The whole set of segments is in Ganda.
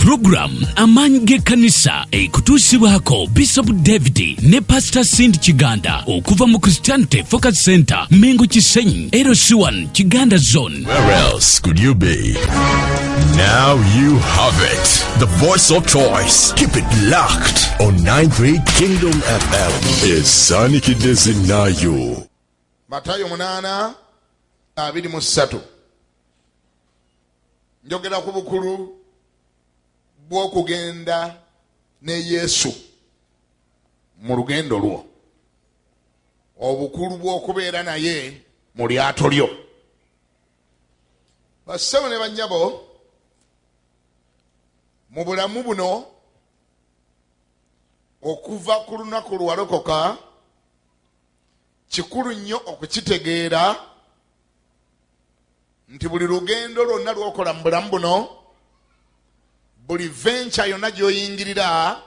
Program amaanyi g'ekkanisa ekutuusibwako Bishop David ne Pastor Cindy Kiganda okuva mu Christianity Focus Center Mengo Kisenyi LC1 Kiganda Zone. Where else could you be? Now you have it. The voice of choice. Keep it locked on 93 Kingdom FM. Esanikidde zinnayo. Matayo munana abiri mu ssatu. njogera ku bukulu bw'okugenda ne yesu mu lugendo lwo obukulu bw'okubeera naye mu lyato lyo bassebo ne bannyabo mu bulamu buno okuva ku lunaku lwewalokoka Kikulu nnyo okukitegeera nti buli lugendo lwonna lwokola mu bulamu buno, buli venture yonna gyoyingirira,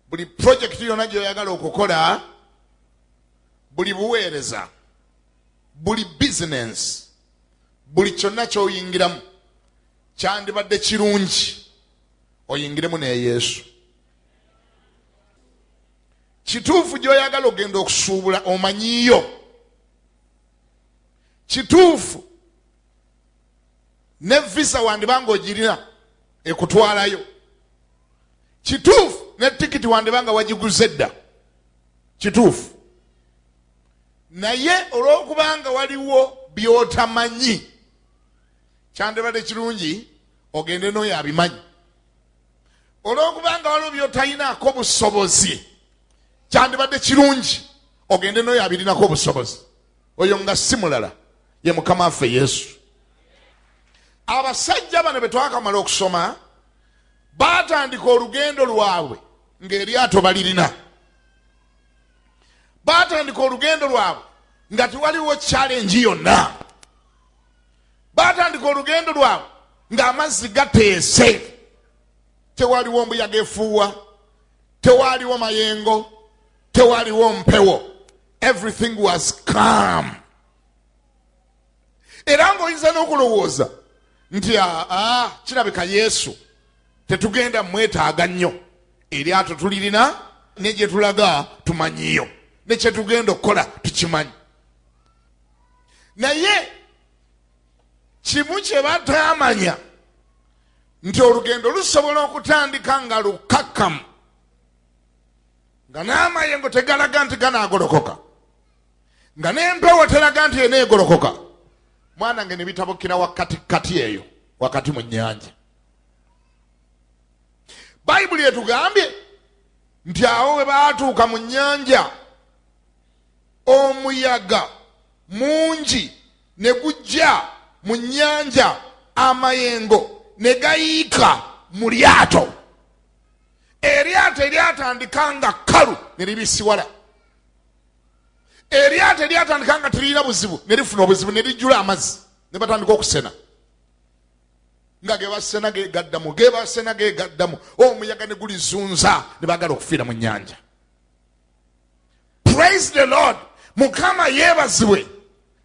buli purojekiti yonna gyoyagala okukola, buli buweereza, buli bizinensi, buli kyonna kyoyingiramu kyandibadde kirungi oyingiremu ne yesu kituufu gyoyagala ogenda okusuubula omanyiyo kituufu ne visa wandibanga ogirina ekutwalayo kituufu ne tikiti wandibanga wagiguze dda kituufu naye olwokubanga waliwo byotamanyi kyandibadde kirungi ogende noyo abimanyi olwokuba nga waliwo byotayinaako obusobozi kyandibadde kirungi ogende noyo abirinako obusobozi oyo nga si mulala ye mukama waffe yesu abasajja bano betwakamala okusoma batandika olugendo lwabwe ngaeryato balirina batandika olugendo lwabwe nga tewaliwo challenge yonna baatandika olugendo lwabwe ng'amazzi gateese tewaliwo mbuyaga efuuwa tewaliwo mayengo tewaliwo mpewo everything was calm era ng'oyinza n'okulowooza nti aa ah, ah, kirabika yesu tetugenda mwetaaga nnyo eryato tulirina ne gye tulaga tumanyiyo ne kye tugenda okukola tukimanyi naye kimu kye bataamanya nti olugendo lusobola okutandika nga lukkakkamu nga n'amayengo tegalaga nti ganaagolokoka nga n'empewo teraga nti eneegolokoka mwana nge ne bitabukira wakati kati eyo wakati mu nnyanja bayibuli etugambye nti awo we baatuuka mu nnyanja omuyaga mungi ne gujja mu nnyanja amayengo ne gayiika mu lyato eryato eryatandika nga kkalu ne libisiwala eryato eryatandika nga teririna buzibu ne lifuna obuzibu ne lijjula amazzi ne batandika okusena nga gebasena gegaddamu gebasena gegaddamu omuyaga ne gulizunza ne bagala okufiira mu nnyanja praise the lord mukama yebazibwe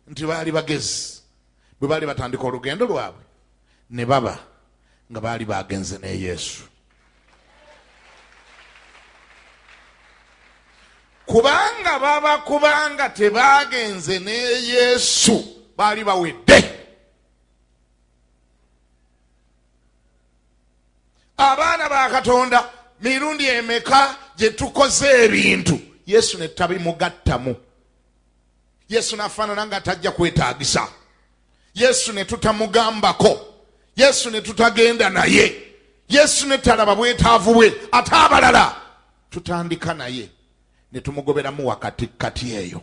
nti baali bagezi bwe baali batandika olugendo lwabwe ne baba nga baali bagenze ne yesu kubanga baba kubanga tebagenze ne yesu baali bawedde abaana ba katonda mirundi emeka gye tukoze ebintu yesu ne tabimugattamu yesu nafaanana nga tajja kwetaagisa yesu ne tutamugambako yesu ne tutagenda naye yesu ne talaba bwetaavu bwe ate abalala tutandika naye ne tumugoberamu wakati kati eyo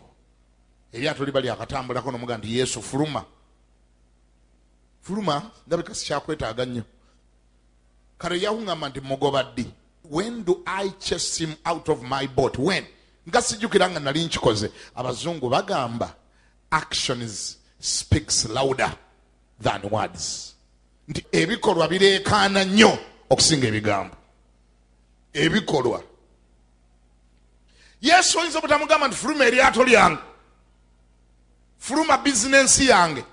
eryato liba lyakatambulako nomuga nti yesu fuluma fuluma ndabika sikyakwetaaga nnyo kale yawuŋama nti mugoba ddi when do i chase him out of my boat when nga sijjukira nga nali nkikoze abazungu bagamba actions speaks louder than words nti ebikolwa bireekaana nnyo okusinga ebigambo ebikolwa yesu oyinza obutamugamba nti fuluma eryato lyange fuluma bizinensi yange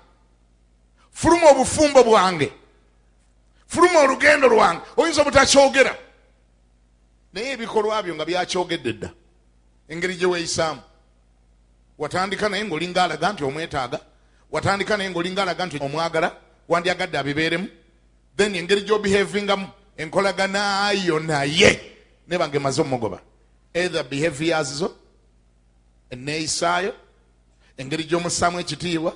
fuluma obufumbo bwange fuluma olugendo lwange oyinza obutakyogera naye ebikolwa byo nga byakyogedde dda engeri gye weeyisaamu watandika naye ngaolinga alaga nti omwetaaga watandika naye ngaolinga alaga nti omwagala wandyagadde abibeeremu then engeri gyobehavingamu enkolaganayo naye nebange emaze omugoba either behaviors zo eneeyisaayo engeri gyomussaamu ekitiibwa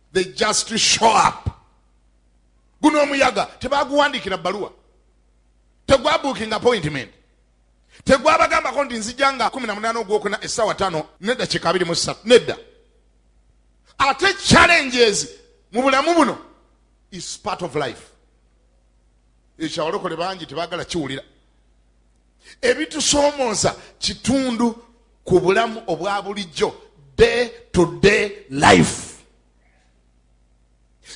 they just show up guno omuyaga tebaguwandikira baluwa tegwabukinga appointment tegwabagambako nti nzija nga 18 ogwokuna esawa tano nedda kika 23 nedda ate challenges mu bulamu buno is part of life ekyawalokole bangi tebagala kiwulira ebitusoomooza kitundu ku bulamu obwa bulijjo day to day life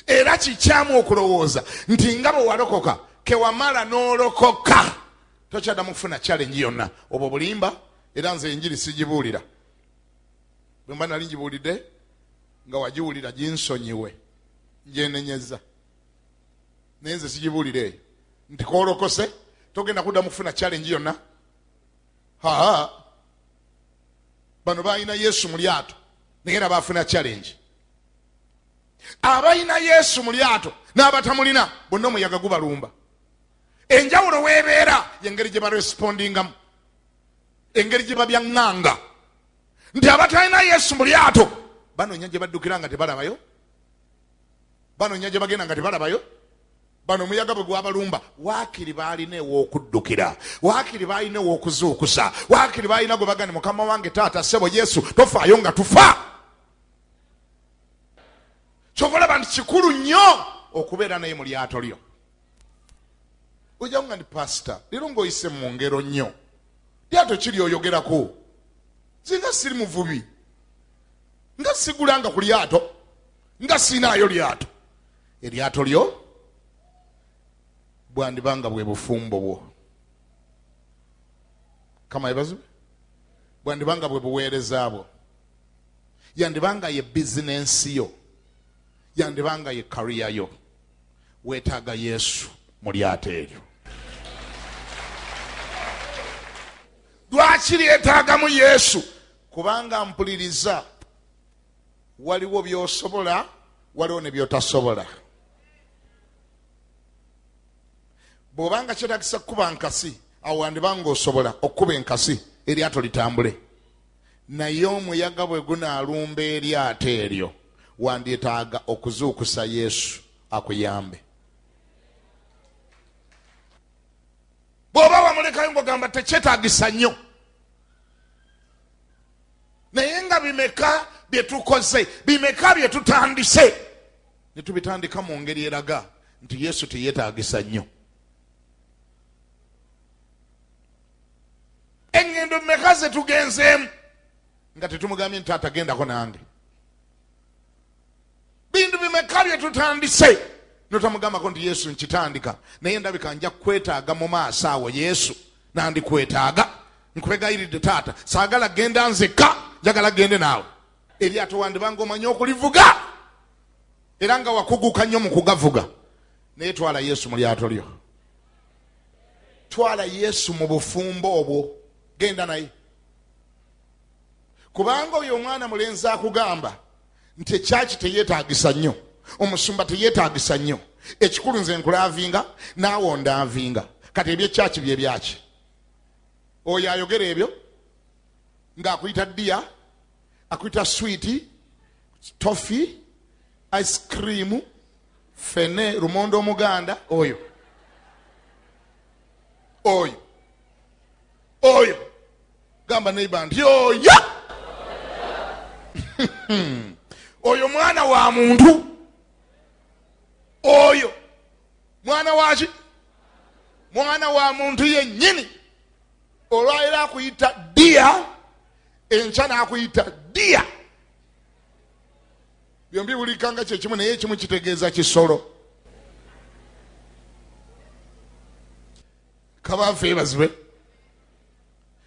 era kikyamu okulowooza nti nga bwe walokoka kewamala n'olokoka tokyadamu kufuna challenge yonna obwo bulimba era nze enjiri sigibuulira bwe mba nali ngibuulidde nga wagiwulira ginsonyiwe njenenyeza naye nze sigibuulira eyo nti koolokose togenda kuddamu kufuna challenge yonna haa bano balina yesu mu lyato naye era bafuna challenge abalina yesu mu lyato n'abatamulina bonna omuyaga gubalumba enjawulo weebeera yengeri gye barespondingamu engeri gye babyaŋŋanga nti abatalina yesu mu lyato banoonya gye baddukira nga tebalabayo banonya gye bagenda nga tebalabayo bano omuyaga bwe gwabalumba waakiri baalina ew'okuddukira waakiri baalina ew'okuzuukusa waakiri baalina gwe bagani mukama wange taata ssebo yesu tofaayo nga tufa kyova olaba nti kikulu nnyo okubeera naye mu lyato lyo ojawo nga ndi pasita leero ng'oyise mu ngero nnyo lyato kiri oyogerako nze nga siri muvubi nga sigulanga ku lyato nga siinaayo lyato eryato lyo bwandiba nga bwe bufumbo bwo kama yebazibwe bwandiba nga bwe buweereza bwo yandiba nga ye bizinensi yo yandiba nga ye kariya yo weetaaga yesu mu lyato eryo lwaki lyetaagamu yesu kubanga mpuliriza waliwo byosobola waliwo ne byotasobola bwobanga kyetagisa kukuba nkasi awo wandibanga osobola okukuba enkasi eryato litambule naye omuyaga bwe gunaalumba eryato eryo wandyetaaga okuzuukusa yesu akuyambe bw'oba wamulekayo ng'ogamba tekyetagisa nnyo naye nga bimeka byetukoze bimeka byetutandise netubitandika mu ngeri eraga nti yesu teyetagisa nnyo engendo meka zetugenzeemu nga tetumugambye nti atagendako nange bintu bimeka bye tutandise notamugambako nti yesu nkitandika naye ndabika nja kukwetaaga mu maaso awo yesu nandikwetaaga nkubegayiridde taata saagala genda nzekka njagala gende naawe eryato wandibanga omanyi okulivuga era nga wakuguka nnyo mu kugavuga naye twala yesu mu lyato lyo twala yesu mu bufumbo obwo genda naye kubanga oyo omwana mulenzi akugamba nti ekyaki teyetagisa nnyo omusumba teyetagisa nnyo ekikulu nze nkulavinga naawe ondavinga kati ebyekyaki byebyaki oyo ayogera ebyo ngaakuyita diya akuyita switi tofi ice cream fene lumonda omuganda oyo oyo oyo gamba neiba nti oyo oyo mwana wa muntu oyo mwana waki mwana wa muntu yenyini olwaliro akuyita dia enkya nakuyita dia byombi bulikanga kyekimu naye ekimu kitegeeza kisolo kabafa ebazibwe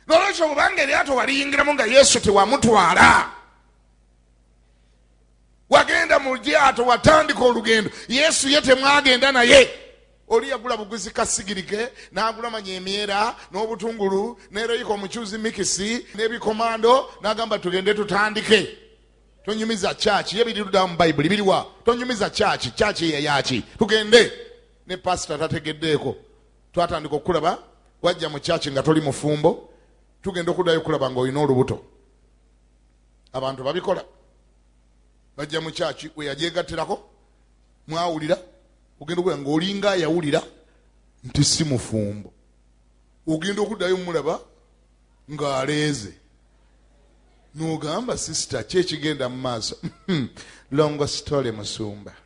nolwekyo obanga eryato waliyingiramu nga yesu tewamutwala wagenda mu lyato watandika olugendo yesu ye temwagenda naye oli yagula buguzi kasigirike n'agula manya emyera n'obutungulu nereyika omucuuzi mikisi n'ebikomando n'agamba tugende tutandike tonyumiza kyaki ye biriruddawo mu bayibuli biriwa tonyumiza kyaki kyaki yeyaki tugende ne pasita tategeddeeko twatandika okukulaba wajja mu kyaki nga toli mufumbo tugenda okuddayo okulaba nga olina olubuto abantu babikola bajja mu kyaki weyagyegattirako mwawulira ogenda okulaba nga olinga ayawulira nti si mufumbo ogenda okuddayo omulaba ng'aleeze nogamba sisita kyekigenda mu maaso hmm. longo story musumba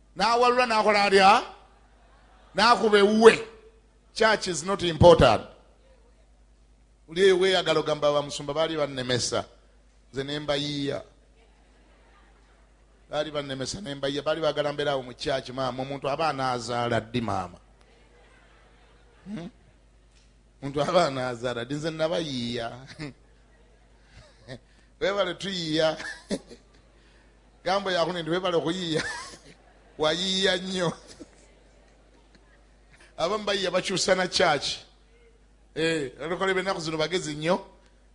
n'awalula n'akola atya n'akuba ewuwe church is not important oli eyo weyagala ogamba bamusumba baali bannemesa nze nembayiiya baali bannemesa nembayiiya baali bagala mbeeraawo mu church maama omuntu aba anaazaala ddi maama hmm? omuntu hmm? aba anaazaala ddi nze nabayiiya webale tuyiiya gambo yakune ndi webale okuyiiya wayiiya nnyo abamu bayiiya bakyusa na kyaki eh, olukole benaku zino bagezi nnyo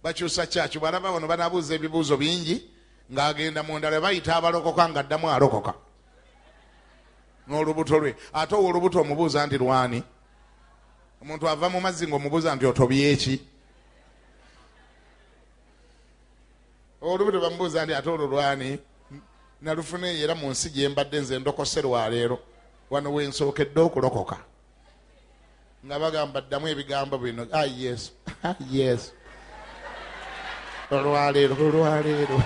bakyusa kyaki bwalaba bano banabuuza ebibuuzo bingi ng'agenda mundala bayita abalokoka ng'addamu alokoka n'olubuto lwe ate owo olubuto omubuuza nti lwani omuntu ava mu mazzi ngaomubuuza nti otobyeki olubuto bamubuuza nti ate olwo lwani nalufuna eyo era mu nsi gye mbadde nze ndokose lwaleero wano wensookedde okulokoka nga bagamba ddamu ebigambo bino a yesu a yesu olwaleero olwaleero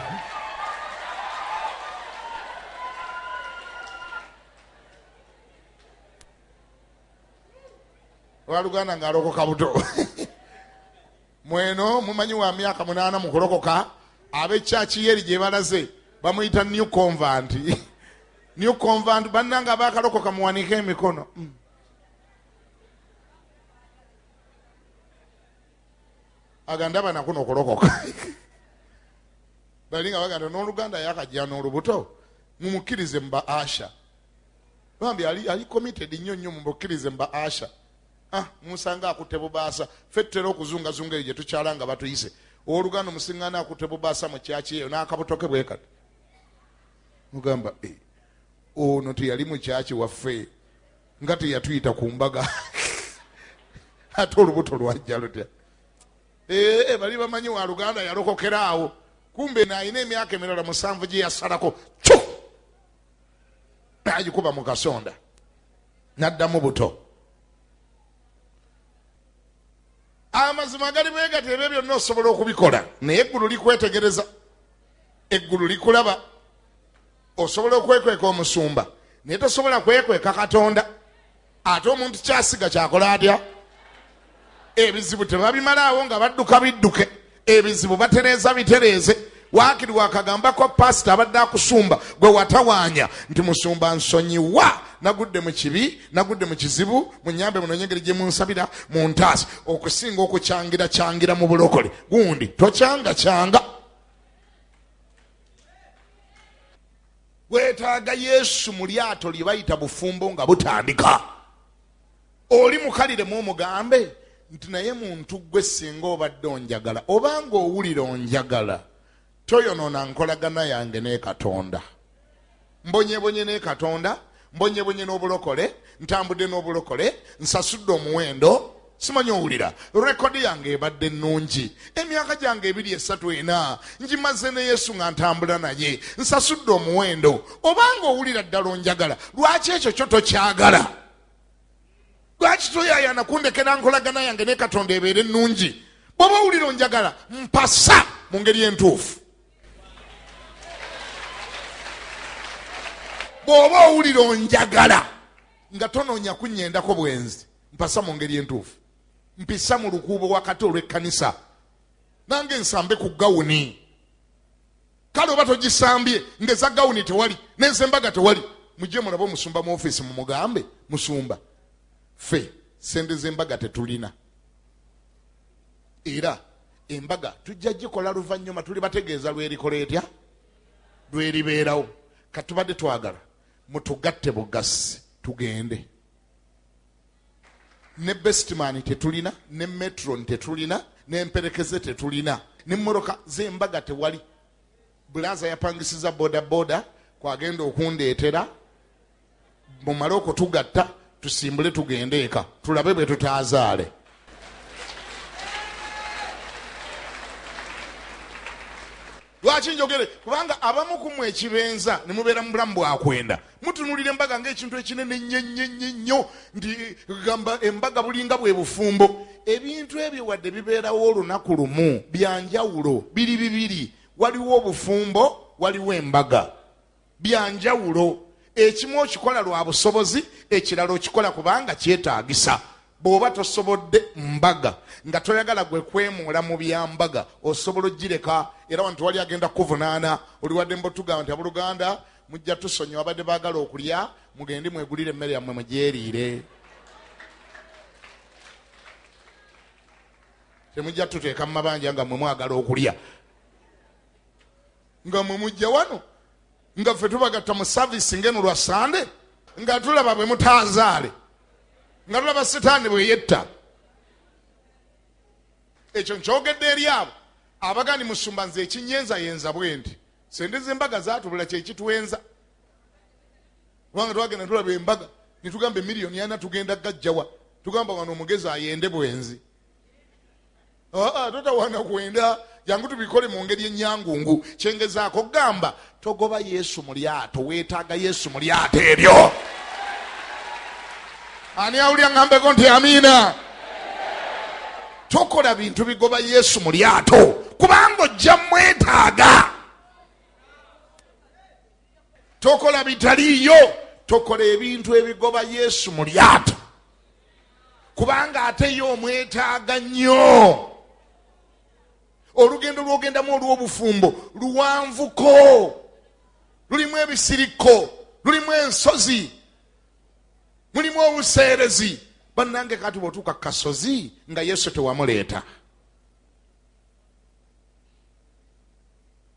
waluganda ngaalokoka buto mweno mumanyi wa myaka munaana mu kulokoka ab'ekyaki yeri gye balaze bamuyita new convant new convant bannanga abakalokoka muwanike emikono mm. aganda banakuno okulokoka bali nga baganda n'oluganda yakajja n'olubuto mumukkirize mu ba asha bambi ali committed nnyo nnyo mumukkirize mu ba asha ah, munsanga akutte bubaasa fe tutera okuzungazunga eyo gye tukyala nga batuyise owoluganda omusiŋgaana akutte bubaasa mu kyaki eyo n'akabutoke bwe kati mugamba eh, ono teyali mu kyaki waffe nga teyatuyita ku mbaga ate olubuto lwajja lutya eh, eh, bali bamanyi wa luganda yalokokera awo kumbe naalina emyaka emirala musanvu gye yasalako cu agikuba mu kasonda naddamu buto amazima gali bwegati ebyo byonna osobola okubikola naye eggulu likwetegereza eggulu likulaba osobola okwekweka omusumba naye tosobola kwekweka katonda ate omuntu kyasiga kyakola atya ebizibu tebabimalaawo nga badduka bidduke ebizibu batereeza bitereeze wakiri wakagambako pasita abadde akusumba gwe watawaanya nti musumba nsonyiwa nagudde mu kibi nagudde mu kizibu munyambe muno nyengeri gye munsabira mu ntaasi okusinga okukyangira kyangira mu bulokole gundi tokyanga kyanga weetaaga yesu mu lyato lye bayita bufumbo nga butandika oli mukalire mu omugambe nti naye muntu gwe singa obadde onjagala obanga owulira onjagala toyonoona nkolagana yange ne katonda mbonyebonye ne katonda mbonyebonye n'obulokole ntambudde n'obulokole nsasudde omuwendo simanyi owulira rekodi yange ebadde nnungi emyaka gyange ebiri esatu ena ngimaze ne yesu nga ntambula naye nsasudde omuwendo obanga owulira ddala onjagala lwaki ekyo kyo tokyagala lwaki toyayana kundekera nkolagana yange ne katonda ebeere ennungi bwoba owulira onjagala mpasa mu ngeri entuufu bwoba owulira onjagala nga tonoonya kunyendako bwenzi mpasa mu ngeri entuufu mpisa mu lukuubo wakati olw'ekkanisa nange nsambe ku gawuni kale oba togisambye ngeza gawuni tewali nezembaga tewali mujje mulabe omusumba mu ofisi mumugambe musumba fe sente zembaga tetulina era embaga tujja gikola luvanyuma tuli bategeeza lwerikola etya lweribeerawo katubadde twagala mutugatte bugasi tugende ne bestman tetulina ne metron tetulina nemperekeze tetulina nemmotoka zembaga tewali bulaza yapangisiza bodaboda kwagenda okundeetera mumale okutugatta tusimbule tugende eka tulabe bwe tutaazaale lwaki njogere kubanga abamu ku mwe ekibenza ne mubeera mu bulamu bwakwenda mutunuulira embaga ngaekintu ekinene nnyo nti gamba embaga bulinga bwe bufumbo ebintu ebyo wadde bibeerawo olunaku lumu byanjawulo biri bibiri waliwo obufumbo waliwo embaga bya njawulo ekimu okikola lwa busobozi ekirala okikola kubanga kyetaagisa bw'oba tosobodde mbaga nga toyagala gwe kwemuula mu byambaga osobola ogireka era wantu wali agenda kukuvunaana oliwadde mbotugamba nti abooluganda mujja tusonyiwa abadde baagala okulya mugende mwegulire emmere yammwe mugyeriire temujja tuteeka mu mabanja nga mwe mwagala okulya nga mwe mujja wano nga ffe tubagatta mu service ngeno lwa sande nga tulaba bwe mutazaale nga tulaba sitaani bwe yetta ekyo nkyogedde eri abo abagani musumba nze ekinyenzayenza bwendi sente zembaga zatubula kyekitwenza kubanga twagenda tulaba embaga netugamba emiliyoni ana tugenda gajjawa tugamba wano omugezi ayende bwenzi ah, ah, totawana kwenda jangu tubikole mu ngeri enyangungu kyengezaako gamba togoba yesu mu lyato weetaaga yesu mu lyato eryo ani awulya ŋambeko nti amiina tokola bintu bigoba yesu mu lyato kubanga ojja mwetaaga tokola bitaliiyo tokola ebintu ebigoba yesu mu lyato kubanga ate ye omwetaaga nnyo olugendo lwogendamu olw'obufumbo luwanvuko lulimu ebisirikko lulimu ensozi mulimu obuseerezi bannange kati bwotuuka kasozi nga yesu tewamuleeta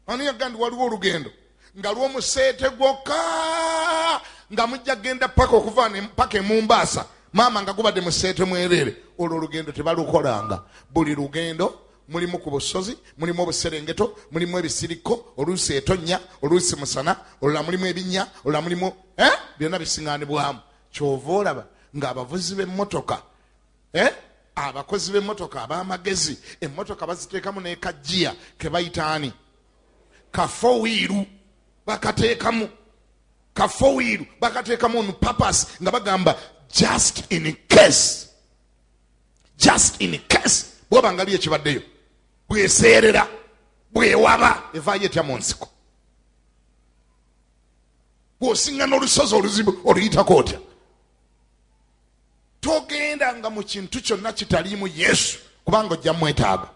ani yaga ndi waliwo olugendo nga lwomuseete gwokka nga mujja genda paka okuva paka emumbaasa maama nga gubadde museete mwereere olwo olugendo tebalukolanga buli lugendo mulimu ku busozi mulimu obuserengeto mulimu ebisirikko oluusi etonnya oluusi musana olula mulimu ebinnya olula mulimu eh? byonna bisinganibwamu kyova olaba ng'abavuzi b'emmotoka eh? abakozi b'emmotoka ab'amagezi emmotoka baziteekamu n'ekajiya ke bayita ani kafowiiru bakateekamu kafowiiru bakateekamu on purpose nga bagamba just in case just in case bwoba nga byo ekibaddeyo bweseerera bwewaba evaayo etya mu nsiko bw'osiŋŋana olusozi oluzibu oluyitako otya togenda nga mu kintu kyonna kitaliimu yesu kubanga ojja mwetaaga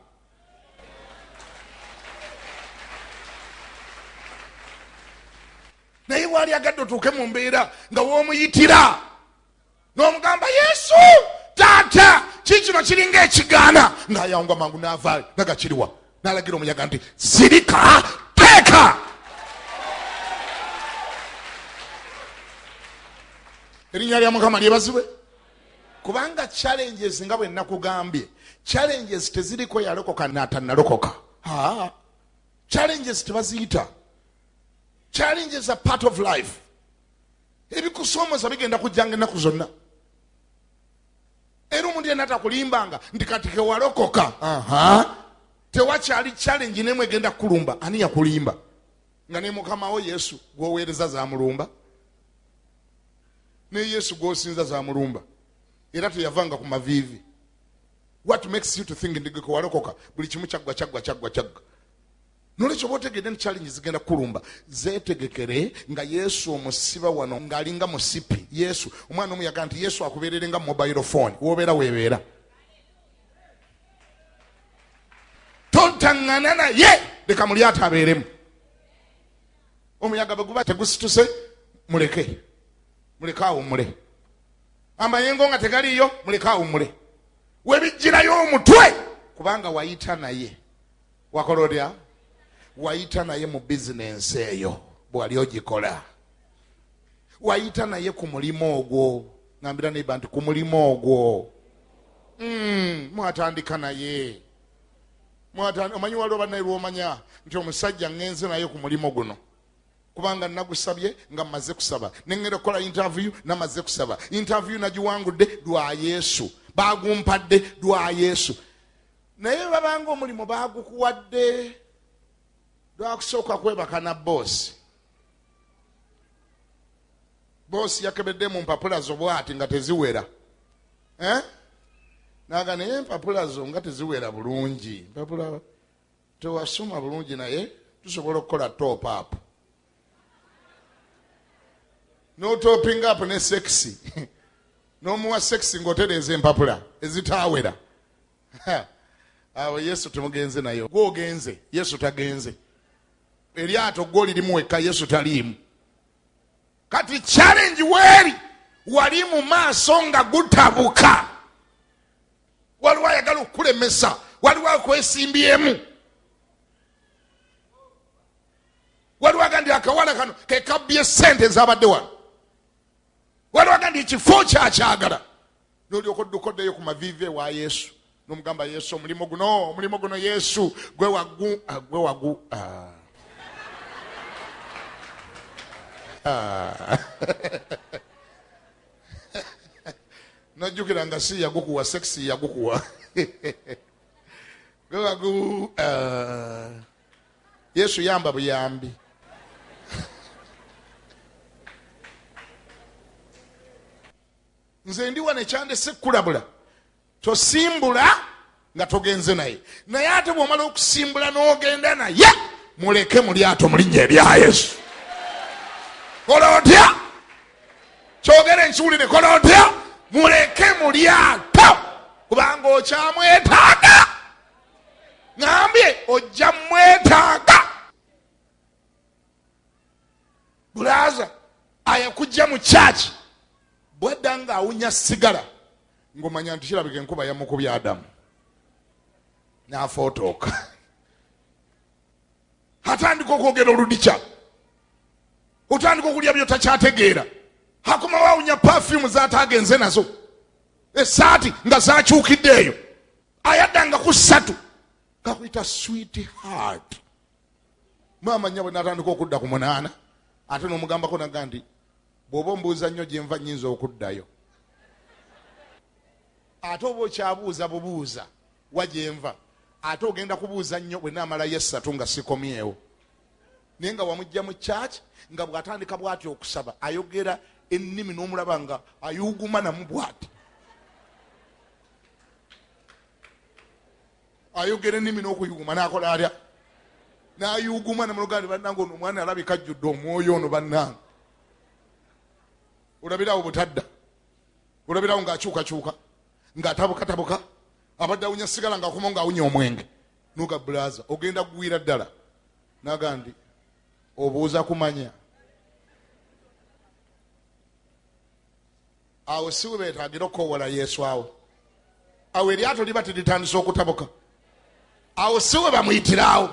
naye waali agadde otuuke mu mbeera nga womuyitira nomugamba yesu taata kikino kiringa ekigaana ngayawunga mangu navayo nagakiriwa n'alagira omuyaga nti sirika teeka erinnya lya mukama lyebazibwe kubanga challenges nga bwe nakugambye challenges teziriko yalokoka natanalokoka challenges tebaziyita challenges a part of life ebikusoomoza bigenda kujjanga ennaku zonna era omuntu yena takulimbanga nti kati kewalokoka tewakyali challenge nemu egenda kukulumba ani yakulimba nga ne mukamawo yesu gwoweereza zamulumba ne yesu gwosinza zamulumba era teyavanga ku maviivi what makes you to think ndigekewalokoka buli kimu kyaggwa kyaggwa kyaggwa kyaggwa nolwekyo oba otegedde nti challenge zigenda kulumba zetegekere nga yesu omusiba wano ng'alinga musipi yesu omwana omu yagaa nti yesu akubeerere nga mobile phone wobeera webeera tontangana naye leka mulyato abeeremu omuyaga bweguba tegusituse muleke muleke awumule amayengo nga tegaliiyo muleke awumule webijjirayo omutwe kubanga wayita naye wakola otya wayita naye mu bizinensi eyo bwewali ogikola wayita naye ku mulimu ogwo ngambira neiba nti ku mulimu ogwo hmm, mwatandika naye omanyi waliwo banaye lwomanya nti omusajja ngenze naye ku mulimu guno kubanga nagusabye nga maze kusaba nengenda okukola interview namaze kusaba interview nagiwangudde lwa yesu bagumpadde lwa yesu naye webabanga omulimu bagukuwadde lwakusooka kwebaka na boosi boosi yakebedde mu mpapula zo bwati nga teziwera eh? naga naye empapula zo nga teziwera bulungi mpapula tewasoma bulungi naye tusobola okukola top up n'otopping up ne sekisi n'omuwa sekisi ng'otereeza empapula ezitaawera awo yesu temugenze naye gwe ogenze yesu tagenze eryato gwe olirimu wekka yesu taliimu kati challenge weeri wali mu maaso nga gutabuka waliwo ayagala okukulemesa waliwo akwesimbyeemu waliwo aga nti akawala kano kekabbye sente ezabadde wano waliwo aga nti ekifo kyakyagala nolyoka odduka oddeyo ku maviivi ewa yesu nomugamba yesu omulimu guno omulimu guno yesu gwe wagu ah, gwe wagu ah. Ah. nojjukira nga si yagukuwa sexi yagukuwa gwe wagu yesu yamba buyambi nze ndi wano ekyandese kukulabula tosimbula nga togenze naye naye ate bwomala okusimbula n'ogenda naye muleke mu lyato mulinnya ebya yesu kola otya kyogere enkiwulire kola otya muleke mu lyato kubanga okyamwetaaga ŋambye ojja mwetaaga bulaaza ayakujja mu kyaki bwedda nga awunya sigala ngomanya nti kirabika enkuba yamukubya adamu nafootooka atandika okwogera oludikya otandika okulya byotakyategeera akomawo awunya pafumu zatagenze nazo esaati nga zakyukidde eyo ayaddanga ku ssatu kakuyita sweet heart maama nyabwe natandika okudda ku munaana ate nomugambako naga nti bwoba ombuuza nnyo gyenva nyinza okuddayo ate oba okyabuuza bubuuza wa gyenva ate ogenda kubuuza nnyo bwenaamalayo essatu nga sikomyewo naye nga wamujja mu church nga bwatandika bwati okusaba ayogera ennimi n'omulaba nga ayuguma namu bwati ayogera ennimi n'okuyuuma n'akola atya nayuguma nemulugandi bannange ono omwana alabika ajjudde omwoyo ono bannange olabirawo butadda olabirawo ngaakyukakyuka ngaatabukatabuka abadde awunya sigala ngaakomo ngaawunya omwenge nuga bulaza ogenda kugwira ddala naga ndi obuuza kumanya awo si we beetaagira okukowoola yesu awo awo eryato liba teritandisa okutabuka awo si we bamuyitirawo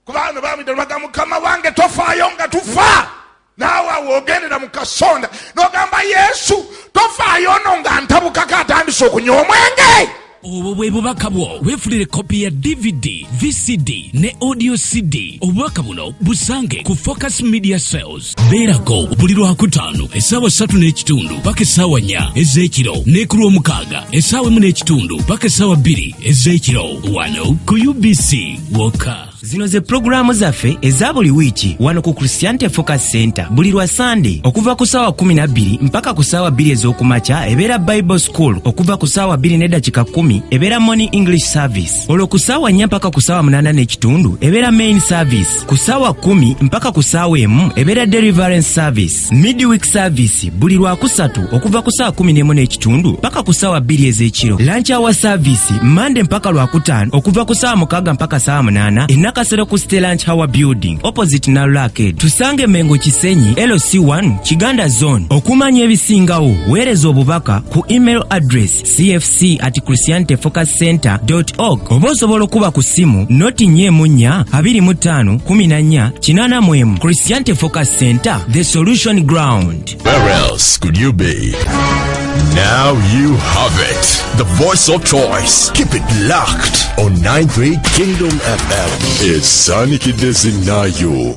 kubano bamwita baga mukama wange tofaayo nga tufa naawe awo ogendera mu kasonda nogamba yesu tofaayo ono nga ntabukako atandise okunywa omwenge obwo bwe bubaka bwo weefunire kopi ya dvd vcd ne audio cd obubaka buno busange ku focus media sales beerako buli lwakutaano essaawa ssatu n'ekitundu paka essaawa nnya ez'ekiro ne ku lw'omukaaga essaawa emu n'ekitundu paka essaawa bbiri ez'ekiro wano ku ubc wokka zino ze pulogulaamu zaffe eza buli wiiki wano ku christianity focus center buli lwa sande okuva ku saawa 12 mpaka ku saawa 2 ez'okumakya ebeera bible school okuva ku saawa 2 nedakika 1 ebeera morning english service olwo ku saawa 4 mpaka ku saawa 8 n'ekitundu ebeera main service ku saawa 1 mpaka ku saawa emu ebeera deliverance service midweek service buli lwakusatu okuva ku saa 11 n'ekitundu paka ku saawa bbiri ez'ekiro lanchi awa service mande mpaka lwakutaano okuva ku saawa mukaaga mpaka saawa munaana enakasero ku ste lanch hour building opposite nalulake tusange mengo kisenyi lc1 kiganda zone okumanya ebisingawo weereza obubaka ku email address cfc at christianity focus center org oba osobola okuba ku ssimu noti nya emu nnya abiri mu ttaano kumi na nnya kinaana mu emu christianity focus center the solution ground Where else could you be? Now you have it. The voice of choice. Keep it locked on 93 Kingdom FM. It's Sonic Dizzy Nayo.